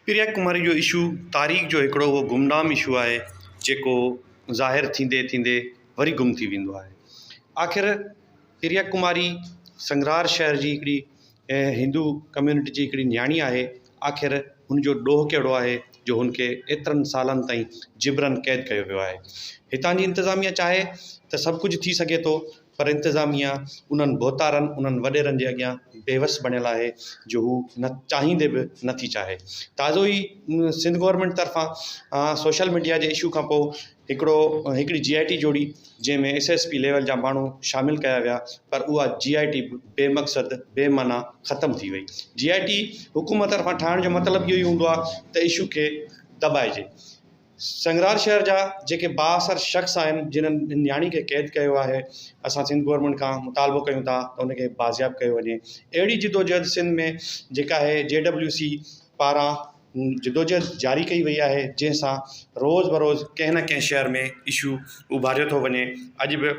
پريا ڪماري جو اشو تاريخ جو هڪڙو اهو گمنام اشو آهي جيڪو ظاهر ٿيندي ٿيندي وري گم ٿي ويندو آهي آخر پريا ڪماري سنگرار شهر جي هڪڙي هندو ڪميونٽي جي هڪڙي نياڻي آهي آخر هن جو ڏوهه ڪهڙو آهي جو هن کي ايترن سالن تائين جبرن قيد ڪيو ويو آهي هتان جي انتظاميا چاهي ته سڀ ڪجهه ٿي سگهي ٿو پر انتظاميه انهن ڀوتارن، انهن وڏيرن جي اڳيان بيوس بڻيل آهي جو هو چاهيندي به نه ٿي چاهي. تازو ئي سنڌ گورنمينٽ طرفان سوشل ميڊيا جي اشو کانپوء هڪڙو هڪڙي جي آء ٽي جوڙي جنهن ۾ ايس ايس پي ليول جا ماڻهو شامل ڪيا ويا پر اها جي آء ٽي به بي مقصد، بي معنيٰ ختم ٿي وئي. جي آء ٽي حڪومت طرفان ٺاهڻ جو مطلب اهو ئي هوندو آهي ته اشو کي دٻائجي. سنگرار شهر جا جيڪي بااثر شخص آهن جنهن ان نياڻي کي قيد ڪيو آهي اسان سنڌ گورنمينٽ کان مطالبو ڪيون ٿا ته ان کي بازياب ڪيو وڃي اهڙي جدوجهد سنڌ ۾ جيڪا هي جي ڊبليو سي پاران جدوجهد جاري ڪئي وئي آهي جنهن سان روز بروز ڪنهن نه ڪنهن شهر ۾ اشو اڀاريو ٿو وڃي اڄ به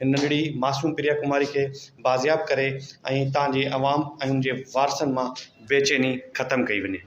هن ننڍڙي معصوم پريا ڪماري کي بازياب ڪري ۽ تان جي عوام ۽ ان جي وارثن مان بيچيني ختم ڪئي وڃي.